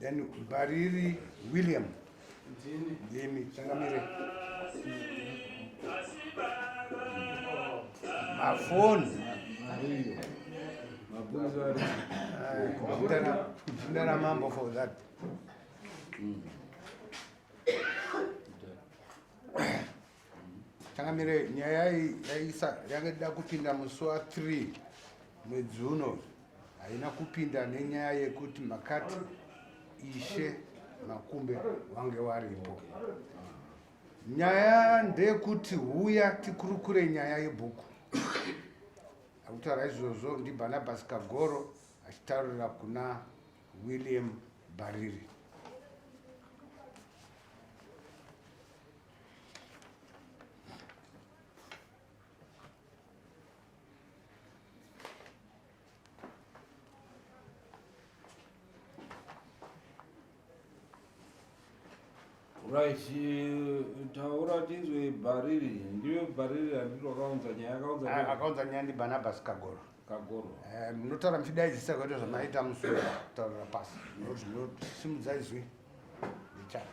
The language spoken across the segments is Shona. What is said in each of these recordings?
Then Bariri William. Ndini. Ndini. Changamire. Mafoni. Ndara mambo for that. Mm. Changamire, nyaya yaisa yanga ida kupinda musi wa 3 mwedzi uno haina kupinda nenyaya yekuti makati ishe makumbe wange waripo. Nyaya ndeyekuti huya tikurukure nyaya yebhuku. Akutaura izvozvo ndiBarnabas Kagoro achitaurira kuna William Bariri. Right, eh, taura tizwe bhariri ndiwe bhariri handiti wakaunza nyaya akaunza ah, akaunza nyaya ndi barnabas kagoro kagoro eh, munotaura muchidaidzisa kwaita zvamaita musoro taurira pasi simudza izwi ndichara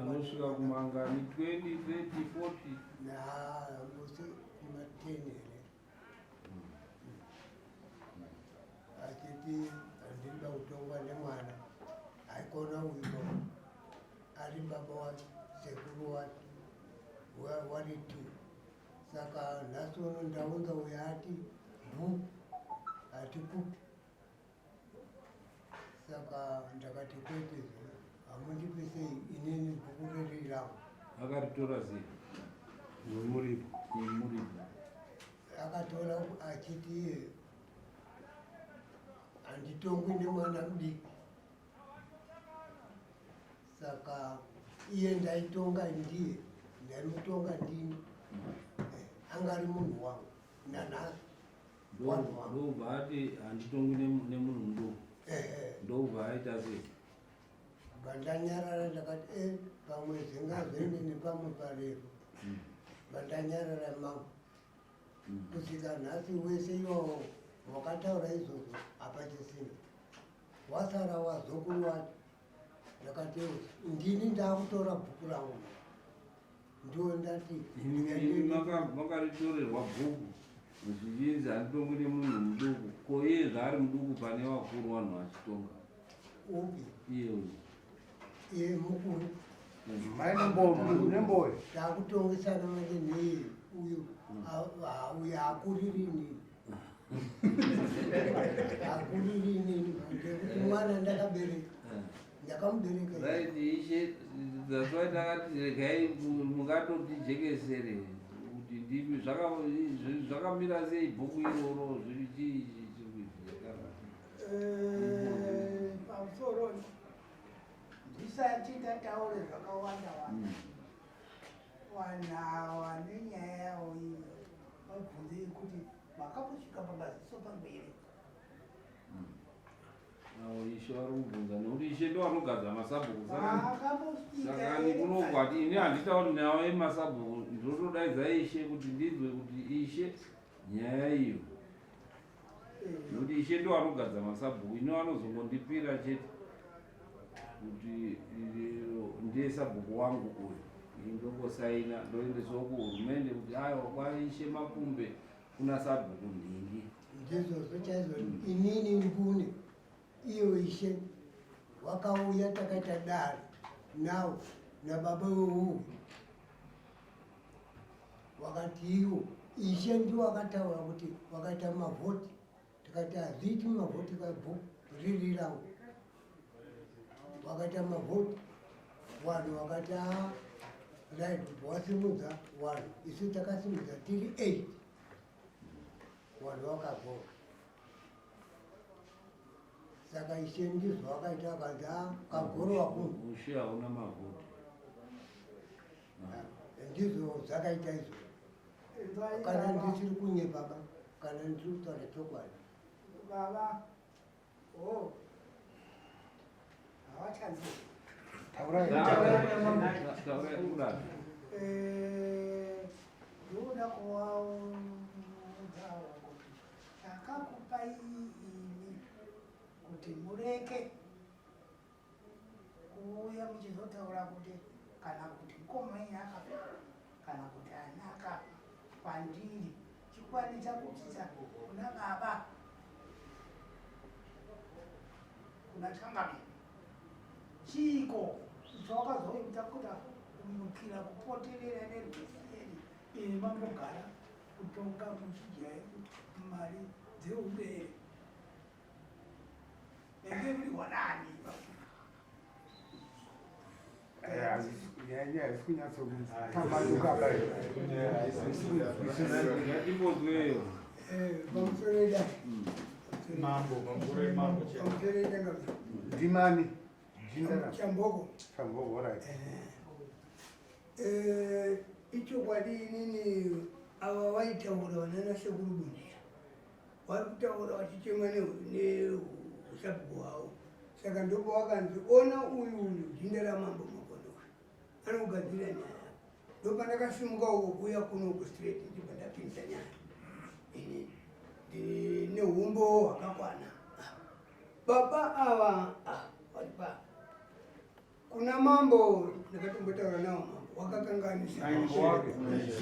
anosvika kumangani 20 30 40 naangose kumatene here achiti andinoda kutongwa nemwana haikona uyo ari baba wacho sekuru wacho wari tu saka nhasi uno ndaunza uyo ati bhu ati kupi saka ndakati kwete hamundipe sei inini bhuku riri rangu akaritora sei nemuripo nemuripo akatora achiti iye handitongwi nemwana mudiki saka iye ndaitonga ndiye ndaimutonga ndini eh, angari munhu wangu nanhasi ndobva ati handitongwi nemunhu mudoko ndobva aita sei bandanyarara ndakati e eh, pamwe zingazende nepamwe parefu hmm. bandanyarara mangu hmm. kusvika nhasi wese iwawo wakataura izvozvo hapachisina wasara wazokuru wati ndakateo ndini ndakutora bhuku rangu ndo ndati makaritorerwa bhuku zvichinzi handitongi nemunhu muduku ko iye zvaari muduku pane vakuru vanhu vachitonga upi iye uyu iye mukuru maimbonemboyo takutongesana manje neiye uyu mm. uyu akuririni mwana ndakabereka ndakamuberekaisheaakatiregai mukatotijekesere kuti ndimi zvakamira sei bhuku iroro zviri chii eh, pamusoro ndisati ndataure zvakawanda wanda mm. Vanhu awa nenyaya yawo iyo vabvunze yekuti makambosvika pamaziso pangu here? Awo ishe vari kubvunza nekuti ishe ndo vanogadza masabhuku sakani kunongwati ini handitauri nyaya yemasabhuku ndinotodaidza ishe kuti ndinzwe kuti ishe nyaya iyo nokuti ishe ndo anogadza masabhuku ino anozongondipira chete kuti ndiye sabhuku wangu uyu indokosaina ndoendeswa kuhurumende kuti aiwa kwaishe makumbe kuna sabhuku ndingi ndizvozvo chaizvo mm. inini ngune iyo ishe wakauya takaita dare nawo nababa weuyu wakati iwo ishe ndiwo akataura kuti wakaita mavhoti tikati hazviiti mavhoti kabho riri rangu wakaita mavhoti vanhu wakati a ah, dai kuti wasimudza vanhu isu takasimudza tiri eight vanhu vakavhota saka ishe ndizvo wakaita akanzi a ah, kagoro wakunhu ndizvo zvakaita izvo kana ndisiri kunyepa ka kana ndiri kutaura chokwadi baba o oh. hawachanzi eh, ndinoda kuvaudzawo kuti chakakupai imi kuti mureke kuuya muchizotaura kuti kana kuti mkoma enyu akafa kana kuti ana akafa kwandiri chikwadi chakutsisa kuna baba kuna changami chiiko chawakazoita kuti kumukira kupoterera nerweseri iri mambogara kutonga muchidya mari dzeubere ndimani chamboko chamboko right ichokwadi inini ava vaitaura vanana sekuru bunjira vari kutaura vachichema neusabhuku hwavo saka ndopo vakanzi ona uyu uyu jinda ramambo makonoka anokugadzira nyaya ndopandakasimuka uko kuuya kuno kustraight ndibva ndapinza nyaya ini ndine humbo hwakakwana baba ava ah, vaipa kuna mambo ndakatombotaura nawo mambo wakakanganisa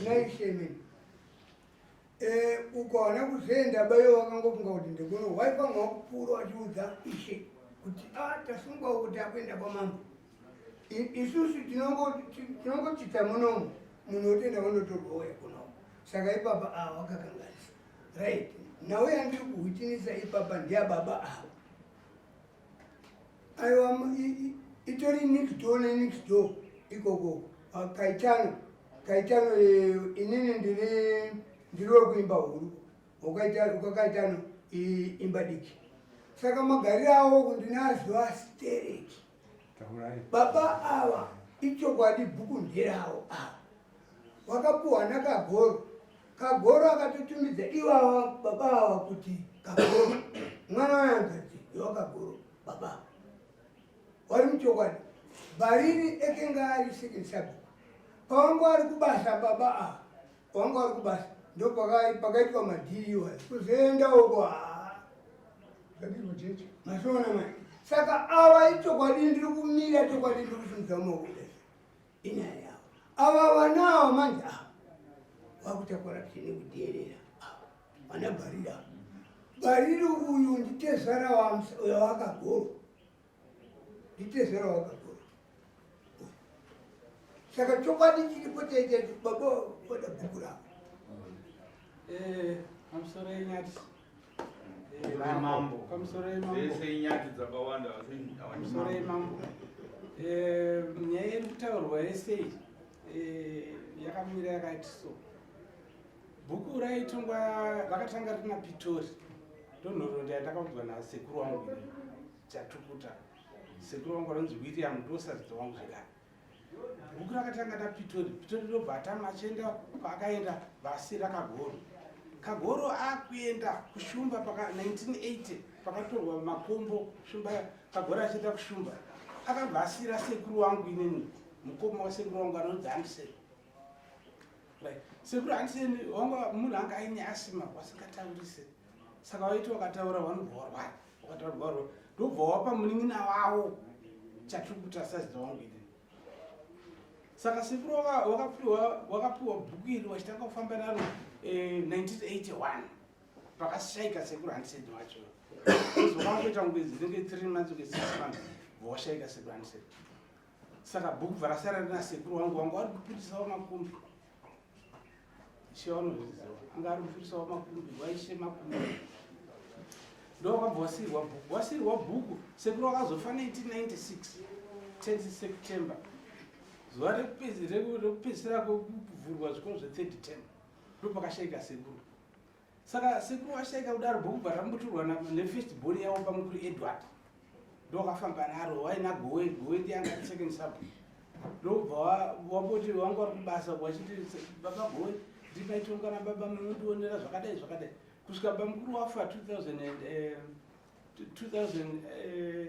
naishemen Eh, ukaona kuzenda bayo wakangofunga kuti ndikuno why panga wakupfuura wachiudza ishe kuti a ah, tasungwawo kuti akuenda kwamambo isusu tinongochita munomu munhu wotenda wanotorwa waya kunoku saka ipapa ava ah, wakakanganisa right nhau yandiri kuhutinisa ipapa ndiyababa ava aiwa itori next door nenext door ikoko ah, kaitano kaitano eh, inini ndiri ndiri wekuimba huru ukakaitano imba diki saka magariro awo kundinaziva stereki baba ava ichokwadi bhuku nderawo ava wakapuhwa nakagoro kagoro akatotumidza iwawa baba awa kuti kagoro mwana wayanzati iwa kagoro baba wari muchokwadi bhariri ekenga ari second sub pawanga ari kubasa baba a wanga ari kubasa ndopakaitwa madhiri iwayo kuzoenda uko zvadizvocheche masoona mai saka awa ichokwadi ndiri kumira chokwadi ndiri kusimudza maoko inyaya yavo ava vana ava manje ava ah, vakuita corruption yekuteerera ah, vana bariri ava bariri uyu nditezvara wavakagoro nditezvara wavakagoro saka chokwadi chiripo chaita baba vada bhuku ravo eh, mambo pamusoro yemambo dzese inyati dzakawanda asi pamusoro yemambo eh, nyaya iri kutaurwa yese eh, yakamira yakati so bhuku raitongwa rakatanga rina pitori ndonhorondo yandakaudzwa nasekuru wangu chatukuta sekuru wangu anonzi william ndosadzidza wangu zvekare bhuku rakatanga napitori pitori ndobva atanga achienda kwaakaenda vasi rakagoro kagoro akuenda kushumba paka 1980 pakatorwa makombo shumba kagoro achienda kushumba akabva asira sekuru wangu inini mukoma wasekuru wangu anonzi andisei right sekuru andiseni wanga munhu anga aine asima wasingataurisi saka waiti wakataura wanobva warwara wakataura baba ro ndobva wapa munin'ina wavo chatiri kuti asazita wangu ini saka sekuru wakapiwa wakapiwa bhuku iri wachitanga kufamba naro 1981 eh, pakashaika sekuru handisedi wacho zvokangoita ngwedzi dzinenge three months kunge six months vowashaika sekuru handisedi saka bhuku bva rasara rina sekuru wangu wangu wari kupindisawo makumbi ishe vanozviziva anga ari mufirisa wamakumbi waishe makumbi ndowakabva wasirwa bhuku wasirwa bhuku sekuru wakazofa 1996 10 september zuva rekupedzisira kwekuvhurwa zvikoro zve 3rd term ndopakashaika sekuru saka sekuru vashaika kudaro bhuku parambuturwa nefirst born yavo pamukuru edward ndokafamba naro waina gowe gowe ndiyanga second sub ndobva wamboti wanga wari kubasa wachiti baba gowe ndipaitonga na baba munondionera zvakadai zvakadai kusvika bamukuru wafa 2000 2000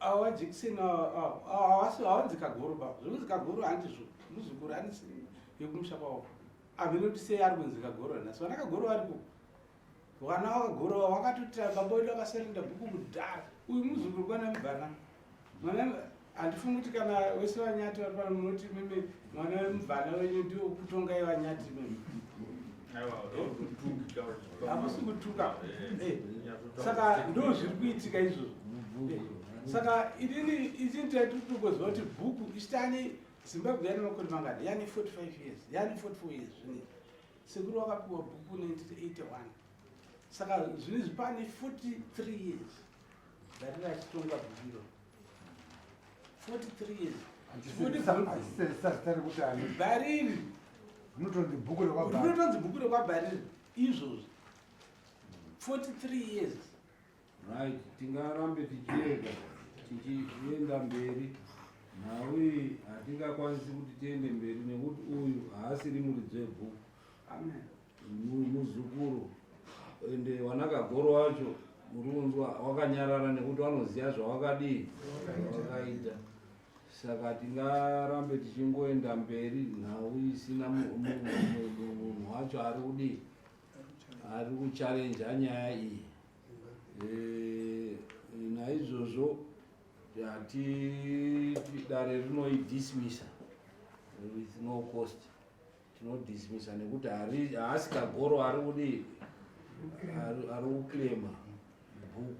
awa jekiseni awasi awanzi kagoro baba zvinonzi kagoro handizvo muzukuru anisi yekumusha kwavo amene kuti sei ari kunzi kagoro nhasi vana kagoro variko vana vakagoro wakatotira baba wedu akaserenda bhuku kudhara uyu muzukuru kwana mubvana mwana handifungi kuti kana wese vanyati vari pano munoti mimi mwana wemuvana wenyu ndiwo kutongai vanyati mimi hakusi kutuka eh, eh, saka ndo zviri kuitika izvozvo eh, saka inini izini taitutukoziva kuti bhuku isitani zimbabwe yane makore mangani yane 45 years yane 44 years zvine sekuru wakapiwa bhuku 1981 saka zvinizvi pane 43 years dati rachitongwa bhukiro 43 years bhariri rinotonzi bhuku rekwabhariri izvozvi 43 years right tingarambe tichienda tichienda mberi nhau iyi hatingakwanisi kuti tiende mberi nekuti uyu haasiri muridzi webhuku muzukuru ende wanakagoro wacho muri kunzwa wakanyarara nekuti wanoziva zvawakadii wakaita saka tingarambe tichingoenda mberi nhau isina munhu wacho ari kudii ari kuchalenja nyaya iyi eh, naizvozvo hati dare rinoidismisa with no cost tinodismisa nekuti haasi kagoro ari kudii ari kuclaima bhuku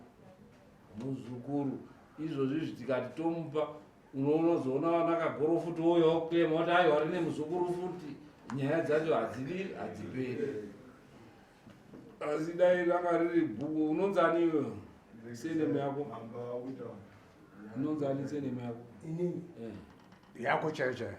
muzukuru izvozvi zvitikati tomupa unozoona vana kagoro futi woyo kuclaima kuti ayo ari nemuzukuru futi nyaya dzacho hadzidi hadziperi asi dai ranga riri bhuku unonzi ani iwe senemu yako unonzi ani senemu yako eh. yako chaiyo chaiyo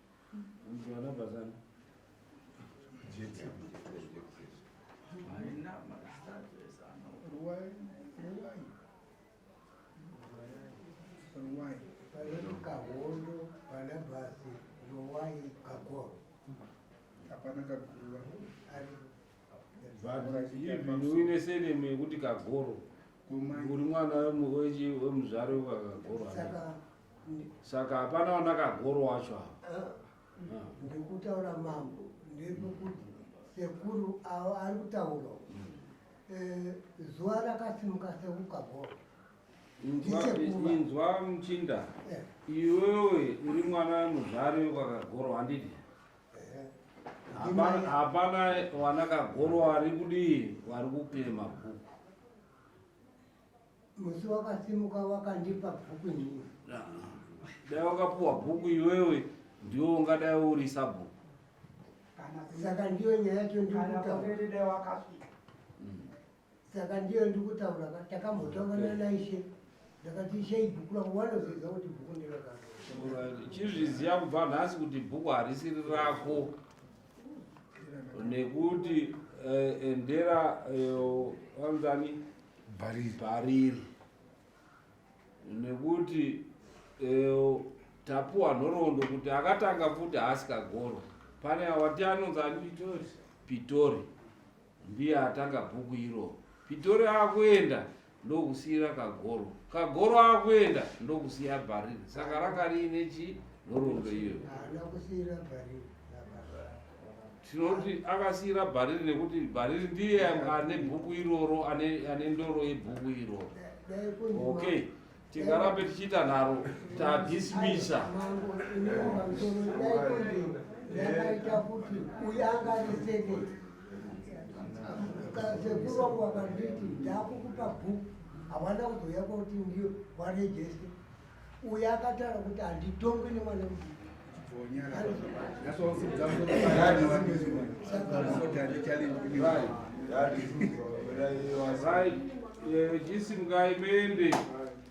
uine senemu yekuti kagoro uri mwana wemuzvare wekakagoro saka hapana wandakagoro wacho ava ah, ah. ndikutaura mambo ndekukuti sekuru avo ari kutaura mm. eh, zuva rakasimuka sekukagoro inzwa muchinda eh. iwewe uri mwana muzvari wekakagoro handidi eh. hapana wanakagoro wari kudii wari kupima bhuku musi wakasimuka wakandipa bhuku nyini dai wakapuwa bhuku iwewe ndiwo ungadai uri sabhuku saka ndiyo nyaya yacho ndikutaura mm. saka ndiyo ndikutaura takambotaurana naishe ndakati ishe ibhuku rangu wanoziva kuti bhuku ndiraka chizviziva kubva nhasi kuti bhuku harisiri rako nekuti eh, endera vanzani eh, bhariri bhariri nekuti eh, tapuwa nhoroondo kuti akatanga futi haasi kagoro pane awati anonzani pitori Ndiye atanga bhuku iroro. Pitori akuenda ndokusiira kagoro. Kagoro akuenda ndokusiya bhariri. Saka ranga riine chi nhoroondo iyoyo. Tinoti akasiira bhariri nekuti bhariri ndiye ane bhuku iroro ane ndoro yebhuku iroro. Okay. tingarambe tichiita nharo tadismisa yakaita kuti uyu anga ari seke sekuru wangu vakanditi ndakukupa bhuku hawana kuzouya kwakuti ndiyo warejeste uyu akataura kuti handitongwe nemwana mudiki jisi mukaimende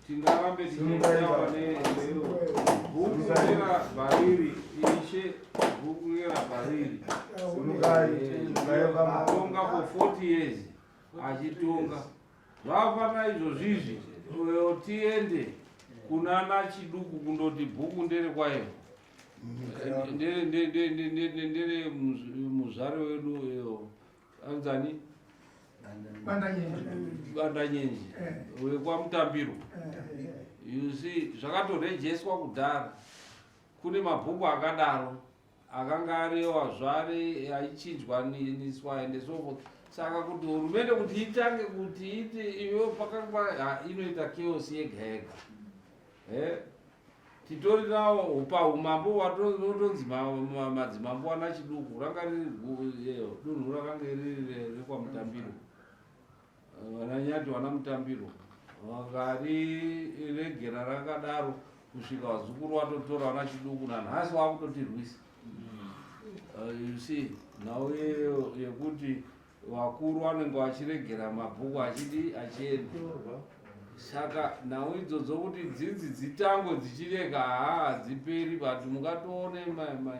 tingarambe tichiitawa neero bhuku rera bhariri ishe bhuku rera bhariri atonga for 40 years achitonga Zvafana izvozvizvi uyo tiende kuna nachiduku kundoti bhuku ndere kwayo ndere muzvare wedu uyo anzani bandanyenji eh. wekwamutambiro eh. you see zvakatorejestwa kudhara kune mabhuku akadaro akanga ariyo hazvari aichinjwa niswa ende so forth saka kuti hurumende kuti itange kuti iti iyo pakanga inoita chaos yega yega eh, titori nawo paumambo watotonzi madzimambo ana chiduku ranga riri dunhu rakanga riri rekwamutambiro Vananyati vana mutambiro vakariregera rakadaro kusvika vazukuru vatotora vana chiduku nanhasi vakutotirwisa uh, you see nhau yekuti vakuru vanenge vachiregera mabhuku achidi achienda saka nhau idzodzo kuti dzidzi dzitango dzichirega haa hadziperi but mukatoone mai mai